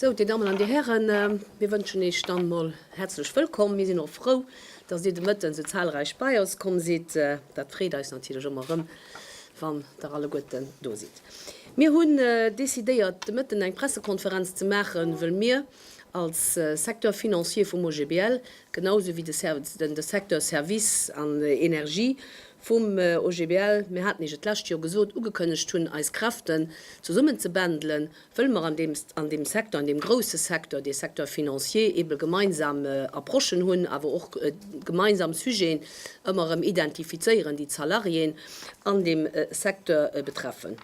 Sou, Dir Dammen an Dir Hären, mir wënschen Iech dann emol häerzlech wëllkomm. Mir sinn och frou, dass Dir de Mëtten esou zahlreich bei eis komm sidd. Dat freet eis natierlech ëmmer erëm, wann Der alleguerten do sidd. Mir hunn decidéiert, de Mëtten eng Pressekonferenz ze maachen, wëll mir, Als Secteur financier vum OGBL, genau esou wéi de Secteur services an énergie vum OGBL, mir haten Iech et d'lescht Joer gesot, ugekënnegt hunn, eis Kräften zesummen ze bändelen, wëlle mer an deem Secteur, an deem grouse Secteur, dee Secteur financier, eebe gemeinsam Approchen hunn, awer och gemeinsam Sujeten ëmmer erëm identifizéieren, déi d'Salariéen an deem Secteur betreffen.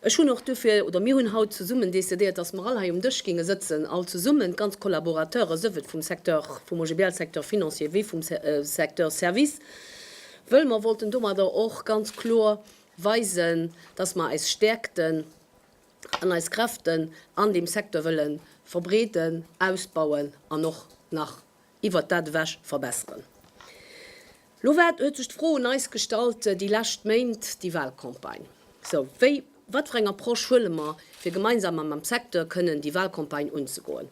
Ech hunn och duerfir, oder mir hunn haut zesummen décidéiert, dass mer all hei um Dësch ginge sëtzen, all zesummen, d'ganz Collaborateure, souwuel vum Secteur, vum OGBL Secteur financier wéi vum Secteur services, wëll mer wollten domadder och ganz kloer weisen, dass mer eis Stäerkten an eis Kräften an deem Secteur wëlle verbreeden, ausbauen an och nach iwwert dat ewech verbesseren. Lo war, huet sech d'Fro un eis gestallt, déi lescht Méint, déi Walcampagne, sou wéi, wat fir eng Approche huele mer, fir gemeinsam mam Secteur kënnen déi Walcampagne unzegoen.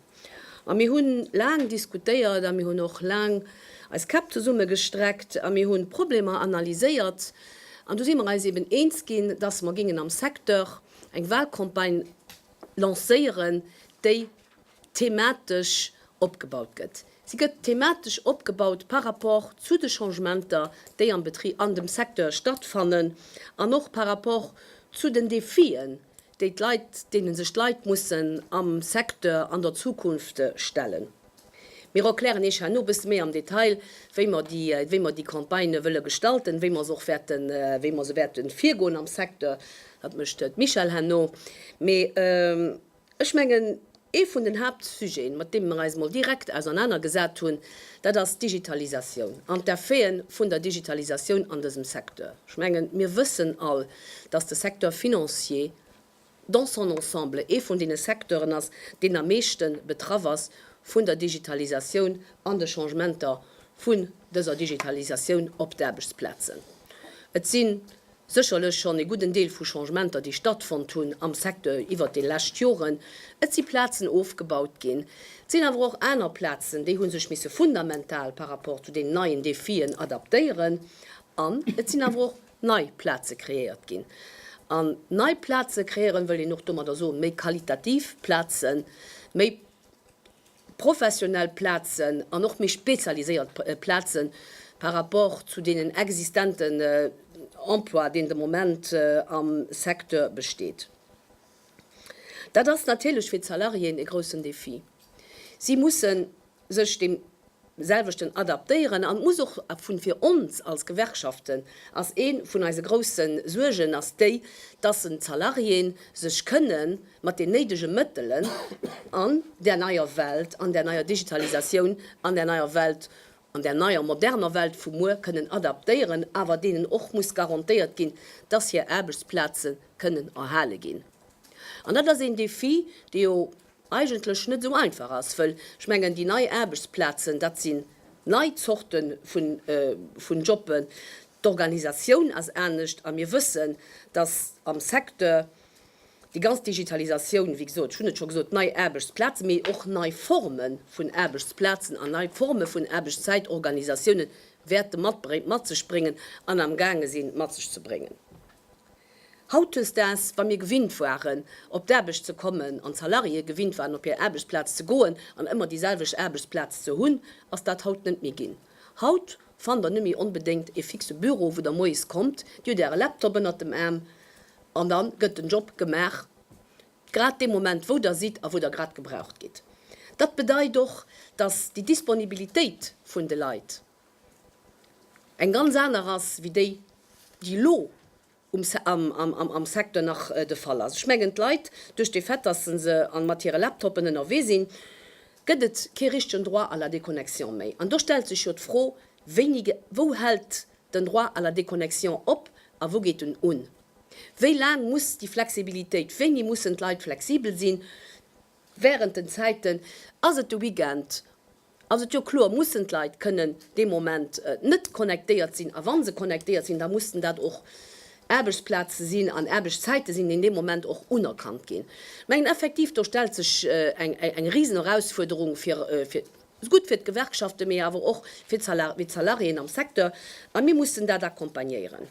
A mir hunn laang diskutéiert a mir hunn och laang eis Käpp zesummegestreckt a mir hunn d'Problemer analyséiert. An du si mer eis eben eens ginn, dass mer géingen am Secteur eng Walcampagne lancéieren, déi thematesch opgebaut gëtt. Si gëtt thematesch opgebaut par rapport zu de Changementer, déi am Betrib, an dem Secteur stattfannen, an och par rapport zu den Défien, déi d'Leit, deene sech d'Leit mussen am Secteur an der Zukunft stellen. Mir erklären Iech herno e bësse méi am Detail, wéi mer déi, wéi mer déi Campagnë wëlle gestalten, wéi mer se och wäerten, wéi mer se wäerte virgoen am Secteur. Dat mécht d'Michèle herno. Mee. Ech mengen, ee vun den Haaptsujeten, mat deem mer eis emol direkt ausernaner gesat hunn, dat ass d'Digitalisatioun an d'Effete vun der Digitalisatioun an dësem Secteur. Ech mengen, mir wëssen all, dass de Secteur financier dans son ensemble ee vun deene Secteuren ass, deen am meeschte betraff ass vun der Digitalisatioun an de Changementer vun dëser Digitalisatioun op d'Aarbechtsplazen. Et sinn Sécherlech schonn ee gudden Deel vu Changementer, déi stattfonnt hunn am Secteur iwwert déi lescht Joren. Et si Plazen ofgebaut ginn. Et sinn awer och aner Plazen, déi hu sech misse fundamental par rapport zu deenen neien Defien adaptéieren. An et sinn awer och nei Plaze kreéiert ginn. An nei Plaze kreéieren, wëll een och domadder soen, méi qualitativ Plazen, méi. professionell Plazen an och méi spezialiséiert Plaze par rapport zu deenen existenten Emploi, deen de Moment am Secteur besteet. Dat ass natierlech fir d'Salariéen e groussen Defi. Si musse sech deem. selwechten adaptéieren an muss och vun fir ons als Gewerkschaften ass een vun eise groussen Suergen ass déi dass en d'Salariéen sech kënnen mat den néidegen Mëttelen an der neier Welt an der neier Digitalisatioun an der neier Welt an der neier moderner Welt vu muer kënnen adaptéieren awer deenen och muss garantéiert ginn dass hir Aarbechtsplaze kënnen erhale ginn an dat ass een Défi dee jo eigentlech net esou einfach ass, wëll ech mengen, déi nei Aarbechtsplazen, dat sinn nei Zorte vun Jobben, d'Organisatioun ass anescht a mir wëssen, dass am Secteur déi ganz Digitalisatioun, wéi gesot, ech hunn et scho gesot, nei Aarbechtsplazen, mee och nei Forme vun Aarbechtsplazen an nei Forme vun Aarbechtszäitorganisatiounen wäerte mat sech bréngen an am gaange sinn mat sech ze bréngen. Hautdesdaags, wa mir gewinnt waren, op d'Aarbecht ze kommen, an d'Salariéë gewinnt waren, op hir Aarbechtsplaz ze goen an ëmmer déi selwecht Aarbechtsplaz ze hunn, ass dat haut net méi ginn. Haut fannt der net méi onbedéngt ee fixe Büro, wou der moies kommt, Dir hutt Äre Laptop ënnert dem Aarm an da gëtt den Job gemaach, grad dee Moment, wou der sidd a wou der grad gebraucht gitt. Dat bedeit och, dass déi Disponibilitéit vun de Leit, eng ganz aner ass wéi déi, déi elo am Secteur nach de Fall ass. Ech mengen, d'Leit, duerch de Fait, dass se mat hire Laptopen ënnerwee sinn, gëtt et kee richtegen Droit à la déconnexion méi. An do stellt sech jo d'Fro, Wéini, wou hält den Droit à la déconnexion op a wou geet en un? Wéi laang muss déi Flexibilitéit, wéini mussen d'Leit flexibel sinn wärend den Zäiten? Ass et de Weekend? ass et jo kloer, mussen d'Leit kënnen dee Moment net connectéiert sinn, a wa se connectéiert sinn, da mussen dat och Aarbechtsplaze sinn an Aarbechtszäite sinn, déi an deem Moment och unerkannt ginn. Ech mengen effektiv, do stellt sech eng risen Erausfuerderung fir, gutt fir d'Gewerkschaften, mee awer och fir d'Salariéen am Secteur, a mir mussen dat accompagnéieren.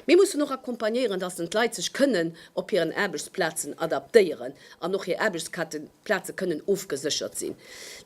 Mir mussen och accompagnéieren, dass den d'Leit sech kënnen op hiren Aarbechtsplazen adaptéieren an och hir Aarbechtsplaze kënnen ofgeséchert sinn.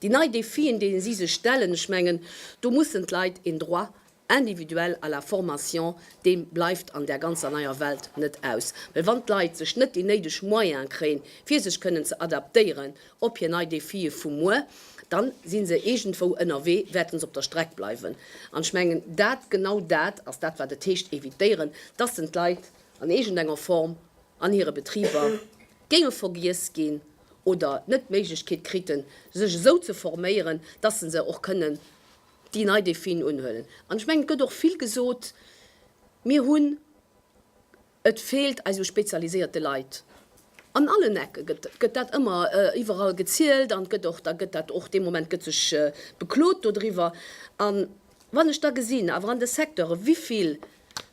Déi nei Défien, deene si sech stellen, ech mengen, do mussen d'Leit een Droit individuel à la formation, dee bleift an där ganzer neier Welt net aus. Well wann d'Leit sech net déi néideg Moyene kréien, fir sech kënnen ze adaptéieren, Op hir nei Défië vu muer, dann sinn se iergendwou ënnerwee, wäerten se op der Streck bleiwen. An ech mengen, dat, genau dat ass dat wat et heescht, évitéieren, dass en d'Leit an iergendenger Form an hire Betriber géinge vergiess ginn oder net d'Méiglechkeet kriten, sech esou ze forméieren, dass se se och kënnen déi nei Défiën unhuelen. An ech mengen, et gëtt och vill gesot, mir hunn. Et feelt eis u spezialiséierte Leit an allen Ecken, gëtt dat ëmmer iwwerall gezielt an gëtt och, da gëtt dat och, dee Moment gëtt sech beklot dodriwwer. A wann ech da gesinn, awer an de Secteure wivill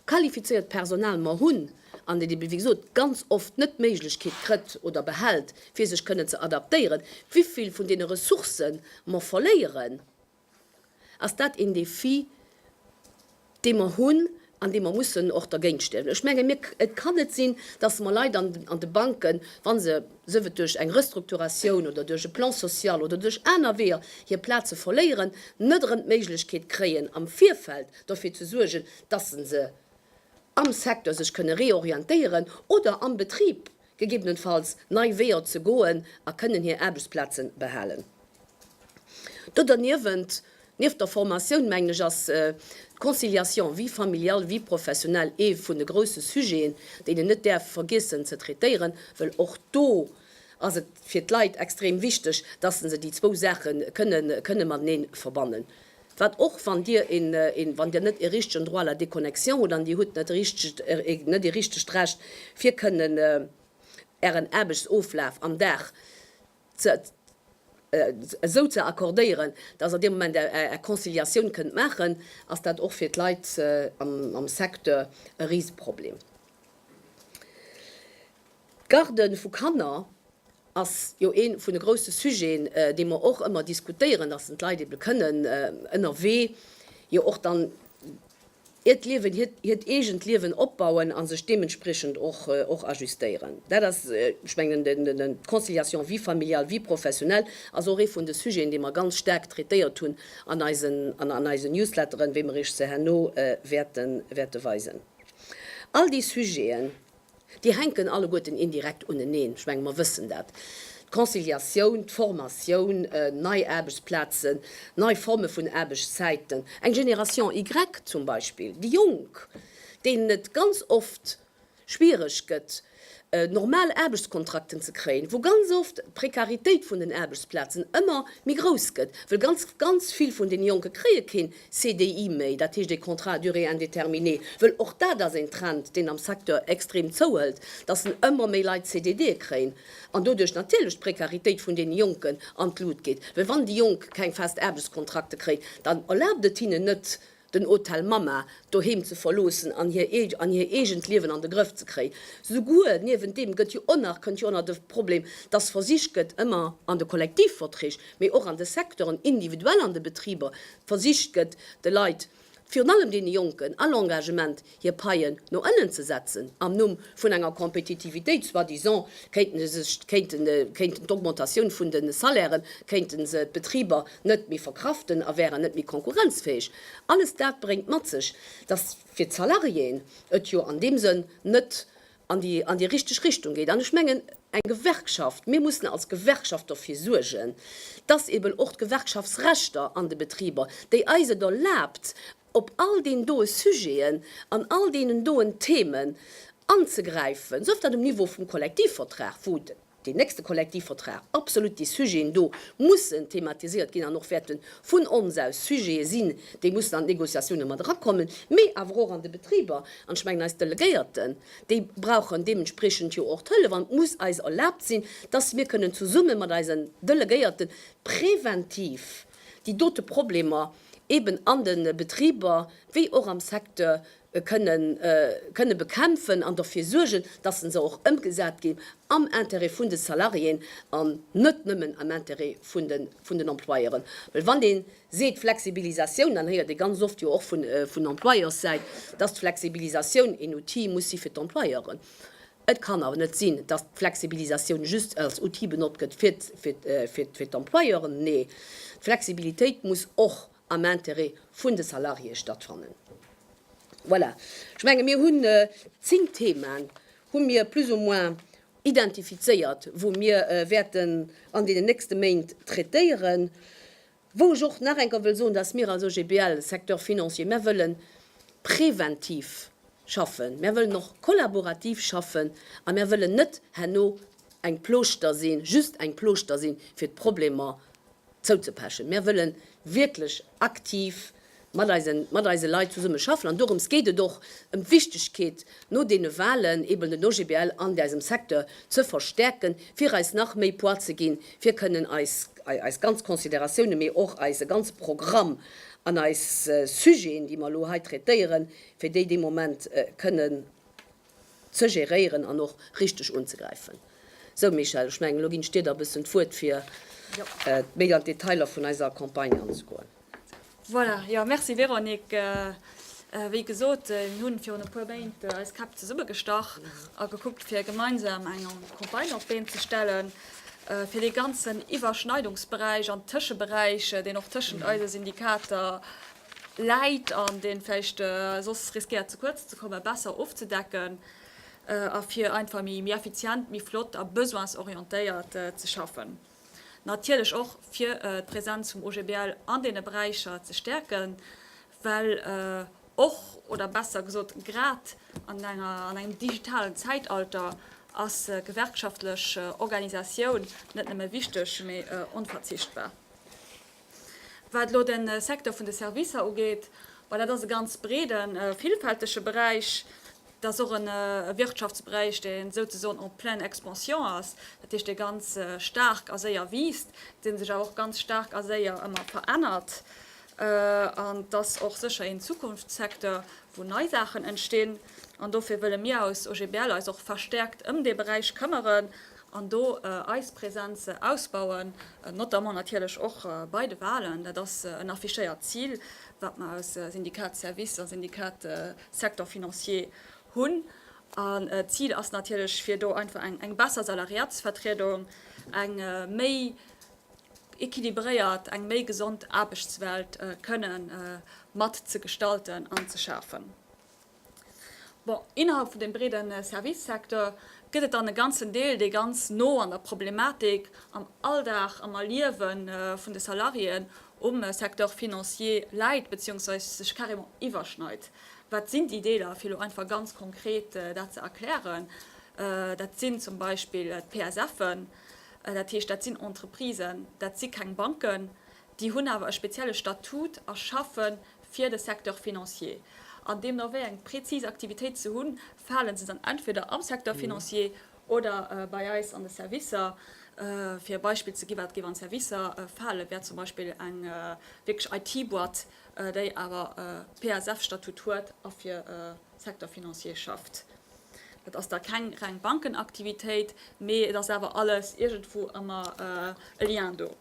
qualifizéiert Personal mer hunn an dat ebe wéi gesot ganz oft net d'Méiglechkeet krëtt oder behält fir sech kënnen ze adaptéieren, wivill vun deene Ressourcë mer verléieren, ass dat een Défi, dee mer hunn an dee mer mussen och dergéint stellen. Ech menge mir, et kann net sinn, dass mer Leit an de Banken, wa se, sief et duerch eng Restrukturatioun oder duerch e Plan social oder duerch aner Weeër, hir Plaze verléieren, net erëm d'Méiglechkeet kréien, am Virfeld derfir ze suergen, dass se se am Secteur sech kënne reorientéieren oder am Betrib gegebenenfalls nei Weeër ze goen a kënnen hir Aarbechtsplaze behalen. Do derniewent, nieft der Formatioun, mengen ech, ass d'Conciliation vie familiale, vie professionnelle ee vun de grousse Sujeten, deen een net däerf vergiessen ze traitéieren, well och do ass et fir d'Leit extrem wichteg, dass se déi zwou Saache kënnen matenee verbannen. Wat och, wann Dir een, een, wann Dir net ee richtegen Droit à la déconnexion hutt an Dir hutt net richtegt, net ee richtegt Recht fir kënnen Ären Aarbechtsoflaf am Dag ze, esou ze accordéieren, dass Der dee Moment Är Conciliatioun kënnt maachen, ass dat och fir d'Leit am Secteur e Riseproblem. D'Garde vu Kanner ass jo ee vun de grousse Sujeten, dee mer och ëmmer diskutéieren, dass en d'Leit ebe kënnen ënnerwee jo och dann hiert Liewen, hiert eegent Liewen opbauen a sech deementspriechend och ajustéieren. Dat ass, ech mengen, d'Conciliation vie familiale, vie professionnelle ass och ee vun de Sujeten, dee mer ganz staark traitéiert hunn an eisen Newsletteren, wéi mer Iech se herno wäerte weisen. All déi Sujeten, Déi hänken alleguerten indirekt uneneen. Ech menge mer wëssen dat. D'Conciliatioun, d'Formatioun, nei Aarbechtsplazen, nei Forme vun Aarbechtszäiten, eng Generation Y zum Beispill, déi Jonk, deenen et ganz oft schwiereg gëtt, normal Aarbechtskontrakten ze kréien, wou ganz oft d'Prekaritéit vun den Aarbechtsplazen ëmmer méi grouss gëtt, well ganz, ganz vill vun deene Jonke kréie keen CDI méi, dat heescht e Contrat à durée indéterminée, wëll och dat ass een Trend, deen am Secteur extrem zouhëlt, dass en ëmmer méi Leit CDDe kréien an doduerch natierlech d'Précaritéit vun deene Jonken an d'Lut geet. Well wann déi Jonk keng fest Aarbechtskontrakte kréien, dann erlaabt et hinnen net, den Hotel Mama doheem ze verloossen an hir an hir eegent Liewen an de Grëff ze kréien. Souguer niewent deem gëtt jo och nach, kënnt jo och nach de Problem, dass versicht gëtt, ëmmer an de Kollektivverträg, mee och an de Secteuren individuell an de Betriber versicht gëtt, de Leit, virun allem deene Jonken, all Engagement, hir Paien no ënnen ze setzen am Numm vun enger Compétitivitéit, soi-disant kéinten se sech, kéinten, kéinten d'Augmentatioun vun de Salairen, kéinten se d'Betriber net méi verkraften a wäeren net méi konkurrenzfäeg. Alles dat bréngt mat sech, dass fir d'Salariéen et jo an deem Sënn net an déi an déi richteg Richtung geet. An ech mengen, eng Gewerkschaft, mir mussen als Gewerkschaft dofir suergen, dass eeben och d'Gewerkschaftsrechter an de Betriber, déi eis et erlaabt, op all deenen doe Sujeten, an all deenen doen Themen anzegräifen, sëft dat um Niveau vum Kollektivvertrag, wou de. deen nächste Kollektivvertrag, absolut déi Sujeten do mussen thematiséiert ginn an och wäerten vun ons aus Sujete sinn, déi mussen an d'Négociatiounen mat erakommen, mee awer och an de Betriber. An ech mengen, eis Delegéierten, déi brauchen deementspriechend jo och d'Hëllef an et muss eis erlaabt sinn, dass mir kënnen zesumme mat eisen Delegéierten präventiv déi dote Problemer eben an de Betriber wéi och am Secteur kënnen bekämpfen an derfir suergen, dass se se och ëmgesat ginn am Intérêt vun de Salariéen an net nëmmen am Intérêt vun den Employeuren. Well wann ee seet Flexibilisatioun, dann héiert ee ganz oft jo och vun Employeurssäit, dass d'Flexibilisatioun een Outil muss si fir d'Employeuren. Et kann awer net sinn, dass d'Flexibilisatioun just als Outil benotzt gëtt fir d'Employeuren. Nee, d'Flexibilitéit muss och am Intérêt vun de Salariéë stattfannen. Voilà, ech menge mir hunn zéng Themen, hu mir plus ou moins identifizéiert, wou mir wäerten an deenen nächste Méint traitéieren. Wou ech och nach eng Kéier wëll soen, dass mir als OGBL, Secteur financier, mir wëlle präventiv schaffen, mir wëllen och kollaborativ schaffen a mir wëllen net herno eng Plooschter sinn, just eng Plooschter sinn, fir d'Problemer zouzepechen. Mär wëlle wierklech aktiv mat eise mat eise Leit zesumme schaffen an dorëms geet et och, ëm d'Wichtigkeet no deene Wahlen eben den OGBL an eisem Secteur ze verstärken, fir eis nach méi Poids ze ginn, fir kënnen eis eis ganz Considératioune mee och eise ganze Programm an eis Sujeten, déi mer elo hei traitéieren, fir déi dee Moment kënnen. ze geréieren an och richteg unzegräifen. Sou Michèle, ech mengen elo ginn ech dir da e bëssen d'Wuert fir méi an d'Detailer vun eiser Campagne anzegoen. Voilà, jo merci Véronique. Wéi gesot, mir hunn virun e puer Méint eis Käpp zesummegestach a gekuckt fir gemeinsam eng Campagne op d'Been ze stellen fir dee ganzen Iwwerschneidungsberäich an Tëscheberäich, deen och tëschent eise Syndikater Läit an, deen vläicht soss riskéiert ze kuerz ze kommen, besser ofzedecken a fir einfach méi effizient, méi flott a besoinsorientéiert ze schaffen. Natierlech och fir d'Präsenz vum OGBL an deene Beräicher ze stäerken, well och, oder besser gesot grad an engem digitalen Zäitalter ass gewerkschaftlech Organisatioun net nëmme wichteg, mee onverzichtbar. Wat elo de Secteur vun de Servicer ugeet, dat ass e ganz breeden, villfältege Beräich. Dat ass och e Wirtschaftsberäich, dee souzesoen en pleine expansion ass, dat heescht, dee ganz staark a séier wiisst, dee sech awer och ganz staark a séier ëmmer verännert. An et ass och sécher een Zukunftssecteur, wou nei Saachen entstinn. An dofir wëlle mir als OGBL eis och verstäerkt ëm dee Beräich këmmeren an do eis Präsenz ausbauen, notamment natierlech och bei de Wahlen, dat ass en affichéiert Zil, wat mer aus Syndicat Services a Syndicat Secteur Financier hunn. An d'Zil ass natierlech, fir do einfach eng besser Salariatsvertriedung, eng méi équilibréiert, eng méi gesond Aarbechtswelt kënnen mat ze gestalten an ze schafen. Bon, innerhalb vun deem breede Service-Secteur gëtt et dann e ganzen Deel, dee ganz no an der Problematik, am Alldag, am Erliewe vun de Salariéen um Secteur financier läit, beziehungsweise sech carrément iwwerschneit. Wat sinn déi Deeler? Fir elo einfach ganz konkret dat ze erklären, Dat sinn zum Beispill d'PSFen, dat heescht, dat sinn Entreprisen, dat si keng Banken, Déi hunn awer e spezielle Statut a schaffe fir de Secteur financier. An deemno wéi eng prezis Aktivitéit se hunn, fale se dann entweder am Secteur financier oder bei eis an de Servicer. Fir e Beispill ze ginn, wat géif an d'Servicer falen, wär zum Beispill eng wierklech IT-Boîte, déi awer e PASF-Statut huet a fir e Secteur financier schafft. Dat ass da keng reng Bankenaktivitéit, mee et ass awer alles iergendwou ëmmer e Lien do.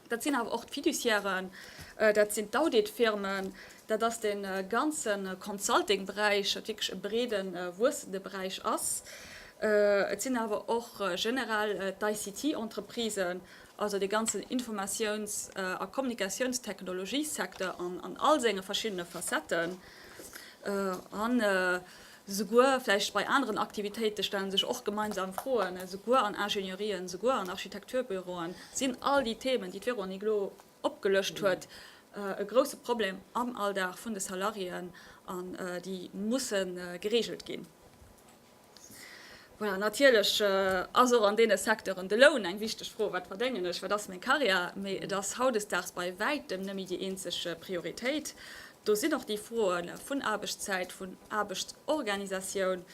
Dat sinn awer och d'Fiduciairen, dat sinn d'Auditfirmen, dat ass dee ganze Consulting-Beräich, wat wierklech e breede wuessende Beräich ass. Et sinn awer och generell d'ICT-Entreprisen, also dee ganzen Informatiouns a Kommunikatiounstechnologiesecteur an all senge verschiddene Facetten. An Souguer vläicht bei aneren Aktivitéite stellen sech och gemeinsam Froen, souguer an Ingenieurien, souguer an Architekturbüroen sinn all déi Themen, déi d'Véronique elo opgelëscht huet, e grousse Problem am Alldag vun de Salariéen an déi musse gereegelt ginn. Voilà, natierlech ass och an deene Secteuren de Loun eng wichteg Fro, Wat verdéngen ech, wat ass meng Karriär? Mee et ass hautdesdaags bei wäitem net méi déi eenzeg Prioritéit. Do sinn och déi Froe vun Aarbechtszäit, vun Aarbechtsorganisatioun,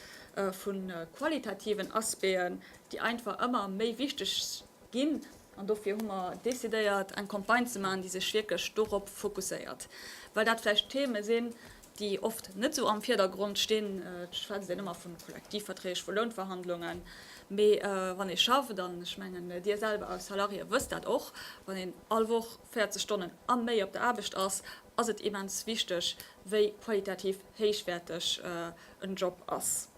vu qualitativen Aspecten, déi einfach ëmmer méi wichteg ginn. An dofir hu mer decidéiert, eng Campagne ze maachen, déi sech wierklech dorop fokusséiert, well dat vläicht Theme sinn, déi oft net esou am Virdergrond stinn, et schwätzt een ëmmer vu Kollektivverträg, vu Lounverhandlungen, mee wann ee schafft, an ech mengen Dir selwer als Salarié wësst dat och, wann een all Woch 40 Stonnen a méi op der Aarbecht ass, ass et immens wichteg, wéi qualitativ héichwäerteg en Job ass.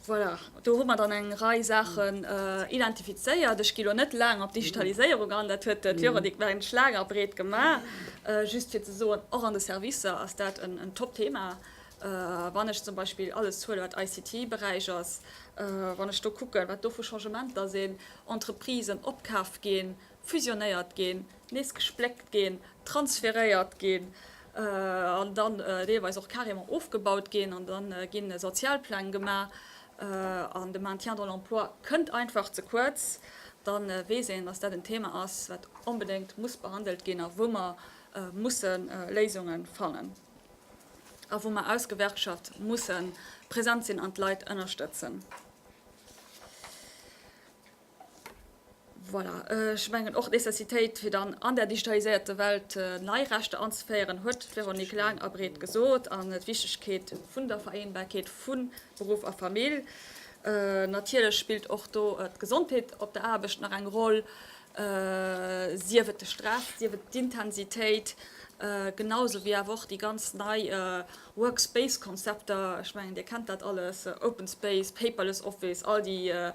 Voilà, do hu mer dann eng Rei Saachen identifizéiert. Ech gi lo net laang op d'Digitaliséierung an, dat huet d'Véronique Merinsch laang a breet gemaach. Just fir ze soen, och an de Servicer ass dat en Top-Thema. Wann ech zum Beispill alles zuelen, wat ICT-Beräich ass, wann ech do kucken, wat do vu Changementer sinn, Entreprisen opkaaft ginn, fusionéiert ginn, nees gespléckt ginn, transferéiert ginn an dann deelweis och carrément ofgebaut ginn. An da gi Sozialpläng gemaach an de Maintien dans l'emploi kënnt einfach ze kuerz. Da weess een, dass dat en Thema ass, wat onbedéngt muss behandelt ginn a wou mer musse Léisunge fannen a wou mer aus Gewerkschaft musse present sinn an d'Leit ënnerstëtzen. Voilà, ech mengen och d'Nécessitéit, fir dann an där digitaliséierter Welt nei Rechter anzeféieren, huet d'Véronique laang a breet gesot, an d'Wichtigkeet vun der Vereenbarkeet vu Beruff a Famill. Natierlech spillt och do d'Gesondheet op der Aarbecht nach eng Roll, sief et de Stress, sief et d'Intensitéit, genau esou wéi awer och déi ganz nei, Workspace-Konzepter, ech mengen, Dir kennt dat alles, Open Space, Paperless Office, all déi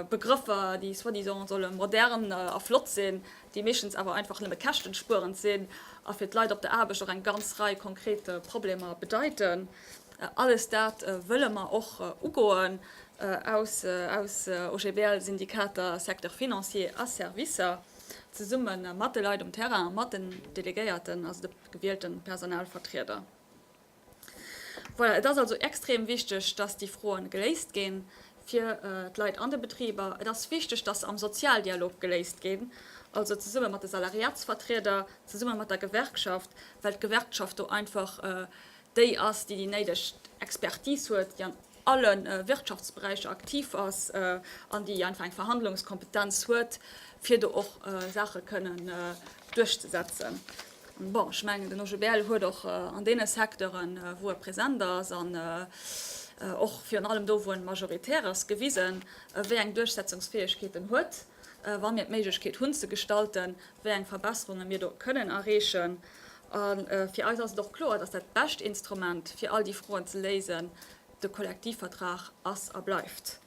Begrëffer, déi soi-disant solle modern a flott sinn, déi meeschtens awer einfach nëmme käschtenspuerend sinn a fir d'Leit op der Aarbecht och eng ganz Rei konkret Problemer bedeiten. Alles dat wëlle mer och ugoen. Aus OGBL-Syndikater, Secteur financier a Servicer, zesumme mat de Leit um Terrain, mat den Delegéierten, gewielten Personalvertrieder. Voilà, et ass also extrem wichteg, dass déi Froen geléist ginn fir d'Leit an de Betriber. Et ass wichteg, dass se am Sozialdialog geléist ginn, also zesummen mat de Salariatsvertrieder, zesummen mat der Gewerkschaft, well d'Gewerkschaft do einfach déi ass, déi déi néideg Expertise huet. alle Wirtschaftsberäicher aktiv ass an déi einfach eng Verhandlungskompetenz huet, fir do och Saache kënnen duerchzesetzen. Bon, ech mengen, den OGBL huet och an deene Secteuren, wou e present ass, an och virun allem do, wou en majoritär ass, gewisen, wéi eng Duerchsetzungsfäegkeet en huet, wa mir d'Méiglechkeet hunn ze gestalten, wéi eng Verbesserunge mir do kënnen erreechen. A fir eis ass et och kloer, dass dat bescht Instrument, fir all déi Froen ze léisen, de Kollektivvertrag ass a bleift.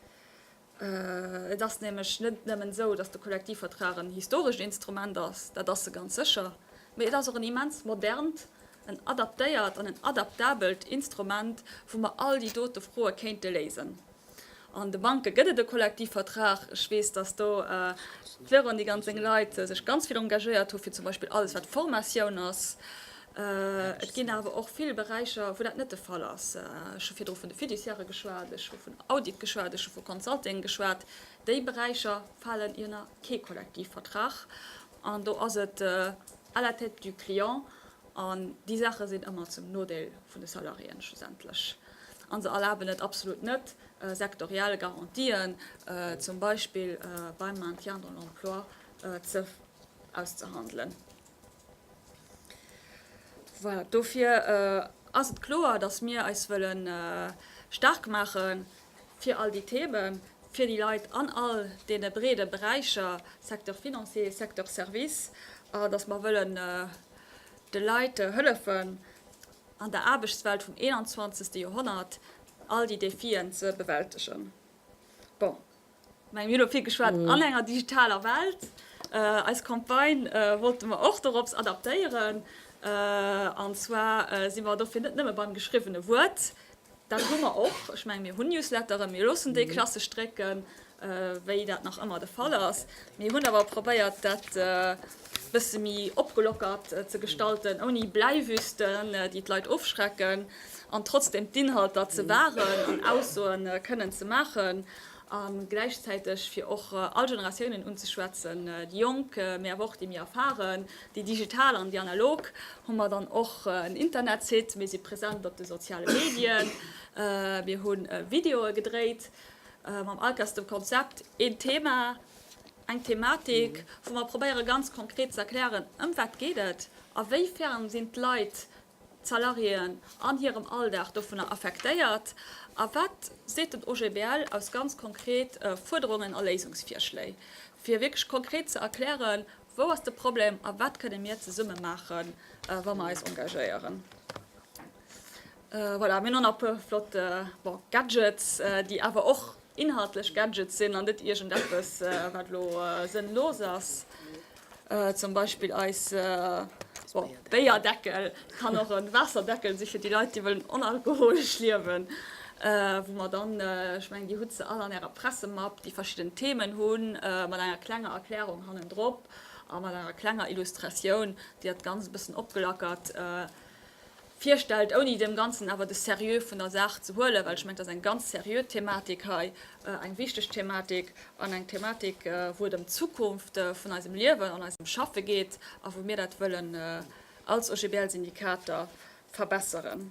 Et ass nämlech net nëmmen esou, dass de Kollektivvertrag en historescht Instrument ass, dat ass e ganz sécher, mee et ass och en immens modernt, en adaptéiert an en adaptabelt Instrument, wou mer all déi dote Froe kéinte léisen. An de Banke gëtt et e Kollektivvertrag. Ech weess, datt do d'Véronique an seng Leit sech ganz vill engagéiert hu fir zum Beispill alles, wat Formatioun ass. Et ginn awer och vill Beräicher, wou dat net de Fall ass. Ech hu virdru vun de Fiduciairë geschwat, ech hu vun Audit geschwat, ech hu vu Consulting geschwat. Déi Beräicher falen iënner kee Kollektivvertrag. An do ass et à la tête du client. An déi Saache sinn ëmmer zum Nodeel vun de Salariéen schlussendlech. A se erlaben et absolut net, sektoriell Garantien, zum Beispill beim Maintien dans l'emploi, auszehandelen. Voilà, dofir ass et kloer, dass mir eis wëlle staark maache fir all déi Themen, fir déi Leit an all deene breede Beräicher, Secteur financier, Secteur services, a dass mer wëlle de Leit hëllefen, an der Aarbechtswelt vum 21. Joerhonnert all déi Defien ze bewältegen. Bon, ech menge mir hu lo vill geschwat an enger digitaler Welt. Eis Campagne wollte mer och dorops adaptéieren, an zwar si mer dofir net nëmme beim geschriwwene Wuert, Dat hu mer och. Ech mengen, mir hunn Newsletteren, mir loossen déi klassesch drécken, wéi dat nach ëmmer de Fall ass. Mir hunn awer probéiert, dat e bësse méi opgelockert ze gestalten, ouni Bläiwüsten, déi d'Leit ofschrecken, an trotzdeem d'Inhalter ze wahren an Aussoe kënnen ze maachen. a gläichzäiteg fir och all Generatiounen unzeschwätzen, déi Jonk, mee awer och déi méi Erfaren, déi digital an déi analog, hu mer dann och en Internetsite, mir si present op de soziale Medien, mir hu Videoe gedréit mam Alkas, dem Konzept Een Thema, eng Thematik, wou mer probéiere ganz konkret ze erklären, ëm wat geet et a wéifern sinn d'Leit Salariéen an hirem Alldag dovunner affektéiert a wat seet den OGBL aus ganz konkret Fuerderungen a Léisungsvirschléi, fir wierklech konkret ze erklären, wou ass de Problem a wat kënne mir zesumme maache wa mer eis engagéieren. Voilà, mir hunn och nach e puer flott Gadgets, déi awer och. inhaltlech Gadgets sinn an net iergendeppes, wat elo sënnlos ass, zum Beispill eis Béierdeckel, kann och e Waasserdeckel si fir déi Leit, déi wëllen onalkoholesch liewen, wou mer dann, ech mengen, Dir hutt se all an Ärer Pressemapp, déi verschidden Themen hu mat enger klenger Erklärung hannendrop a mat enger klenger Illustratioun, déi dat Ganzt e bëssen opgelackert. virstellt, ouni deem Ganzen awer de Seriö vun der Saach ze huelen, well ech mengen, et ass eng ganz seriö Thematik hei, eng wichteg Thematik an eng Thematik, wou et ëm d'Zukunft vun eisem Liewen an eisem Schaffe geet a wou mir dat wëllen als OGBL-Syndikater verbesseren.